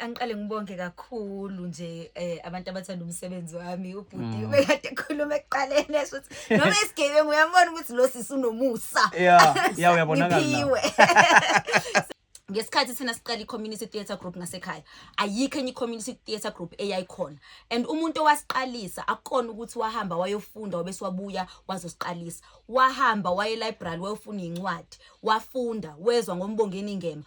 angiqale ngibonge kakhulu nje eh, abantu abathanda umsebenzi wami ubhuti mm. bekade ekhuluma ekuqaleni esho ukuthi noma esigebengu uyambona ukuthi lo sisi unomusa uyabonakalaiphiwe ngesikhathi thina siqala i-community theatre group ngasekhaya ayikho enye i-community theatre group eyayikhona and umuntu owasiqalisa akukona ukuthi wahamba wayofunda wabese wabuya wazosiqalisa wahamba waye library wayofuna incwadi wafunda wezwa ngombongeni ngema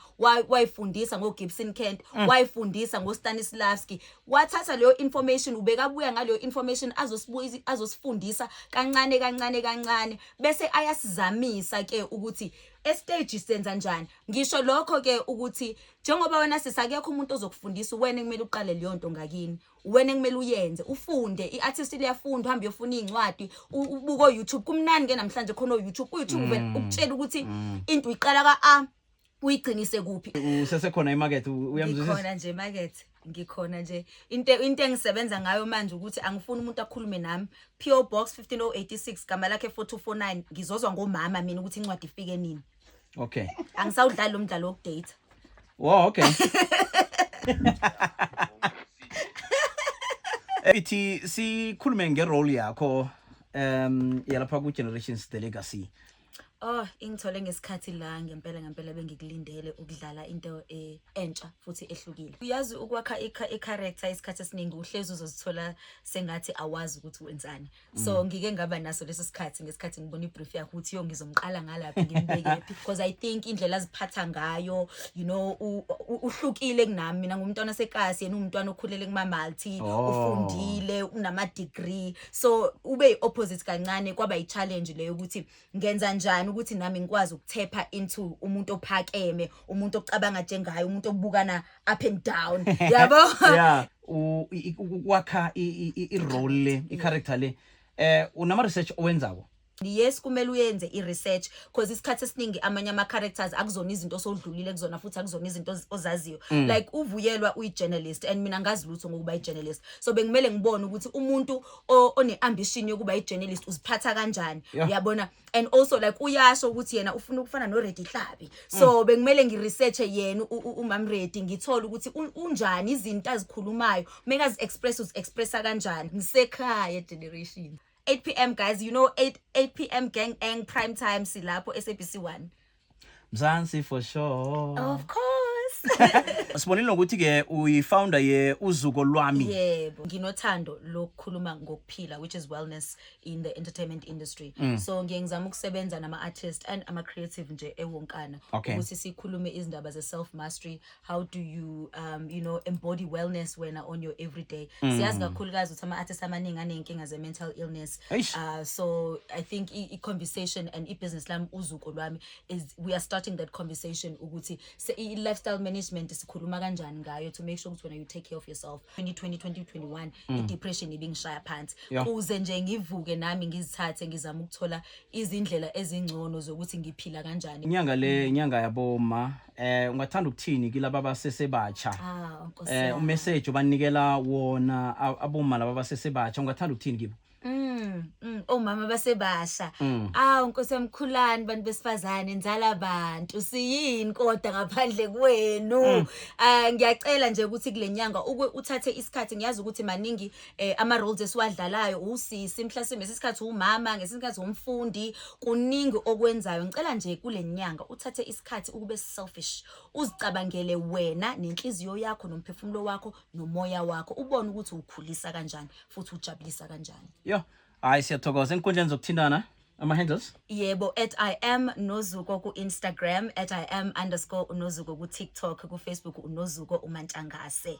wayifundisa ngo Gibson Kent mm. wayifundisa ngo Stanislavski wathatha leyo information ubekabuya ngaleyo information azosibuza azosifundisa kancane kancane kancane bese ayasizamisa ke ukuthi estage senza njani ngisho lokho ke ukuthi njengoba wena sisakekho umuntu ozokufundisa wena kumele uqale leyo nto ngakini wena kumele uyenze ufunde i-artist liyafunda uhambe uyofuna iy'ncwadi u- ubuke o-youtube kumnani ke namhlanje khona o-youtube u-youtube uvele Mm. ukutshela ukuthi Mm. into uyiqala ka-a uyigcinise kuphi usesekhona imakethe u- uyamzwisisa ngikhona nje makethe ngikhona nje into into engisebenza ngayo manje ukuthi angifuni umuntu akhulume nami PO Box 15086 gama lakhe 4249 ngizozwa ngomama mina ukuthi incwadi ifike nini okay angisawudlali lo mdlalo wokudate wow okay ithi sikhulume ngerole yakho um yalapha ku-generations the legacy oh ingithole ngesikhathi la ngempela ngempela bengikulindele ukudlala into eh, entsha futhi ehlukile uyazi ukwakha i-character isikhathi esiningi uhlezi uzozithola sengathi awazi ukuthi wenzani so mm. ngike ngaba naso leso sikhathi ngesikhathi ngibona ibrief yakho ukuthi yo ngizomqala ngalaphi ngimbekephi because i think indlela aziphatha ngayo you know uhlukile kunami mina ngumntwana osekasi yena umntwana okhulele kumamalti oh. ufundile unama degree so ube opposite kancane kwaba i challenge leyo ukuthi ngenza njani ukuthi nami ngikwazi ukuthepha into umuntu ophakeme umuntu ocabanga njengaye umuntu obukana up and down yabo yeah ukwakha i-role le i-character le eh unama research owenzako yes kumele uyenze i-research because isikhathi esiningi amanye ama-characters akuzona izinto osodlulile kuzona futhi akuzona izinto ozaziyo mm. like uvuyelwa uyi-journalist and mina ngazi lutho ngokuba i-journalist so bengimele ngibone ukuthi umuntu o- one-ambition yokuba i-journalist uziphatha kanjani Yeah. uyabona and also like uyasho ukuthi yena ufuna ukufana noredi hlabi Mm. so bekumele ngi-researche yena u- u- umamredi ngithole ukuthi un- unjani izinto azikhulumayo mekazi-express uzi-expressa kanjani ngisekhaya generation 8 p m guys you know 8, 8 p m gang ang prime time silapho sabc 1 Mzansi for sure. Of course. Sibonile nokuthi ke uyifounder ye uzuko lwami. Yebo, nginothando lokukhuluma ngokuphila which is wellness in the entertainment industry. Mm. So ngiye ngizama ukusebenza nama artists and ama creative nje ewonkana Okay. ukuthi sikhulume izindaba ze self mastery, how do you um you know embody wellness wena on your everyday mm. siyazi kakhulukazi ukuthi ama-artist amaningi aney'nkinga ze-mental illness uh, so i think i-conversation and i-business lami uzuko lwami is we are starting that conversation ukuthi i-lifestyle management sikhuluma kanjani ngayo to make sure ukuthi wena you take care of yourself 2020 2021 mm. i-depression ibingishaya phansi kuze nje ngivuke nami ngizithathe ngizama ukuthola izindlela ezingcono zokuthi ngiphila kanjani inyanga le inyanga yaboma eh ungathanda ukuthini kilaba abasesebatsha Ah, Nkosi eh yami. umessage obanikela wona a- aboma laba abasesebatsha ungathanda ukuthini kibo Mm, mm, omama basebasha Mm. awu nkosi yamkhulani bantu besifazane nzala bantu siyini kodwa ngaphandle kwenu Mm. Ah, ngiyacela nje ukuthi kule nyanga ukwe- uthathe isikhathi ngiyazi ukuthi maningi eh ama roles esiwadlalayo usisi mhlasimbe sesikhathi umama ngesikhathi umfundi kuningi okwenzayo ngicela nje kulenyanga uthathe isikhathi ukube selfish uzicabangele wena nenhliziyo yakho nomphefumulo wakho nomoya wakho ubone ukuthi ukhulisa kanjani futhi ujabulisa kanjani yo hayi siyathokoza enkundleni zokuthintana ama handles yebo at i am nozuko ku instagram at i am underscore unozuko ku tiktok ku facebook unozuko umantshangase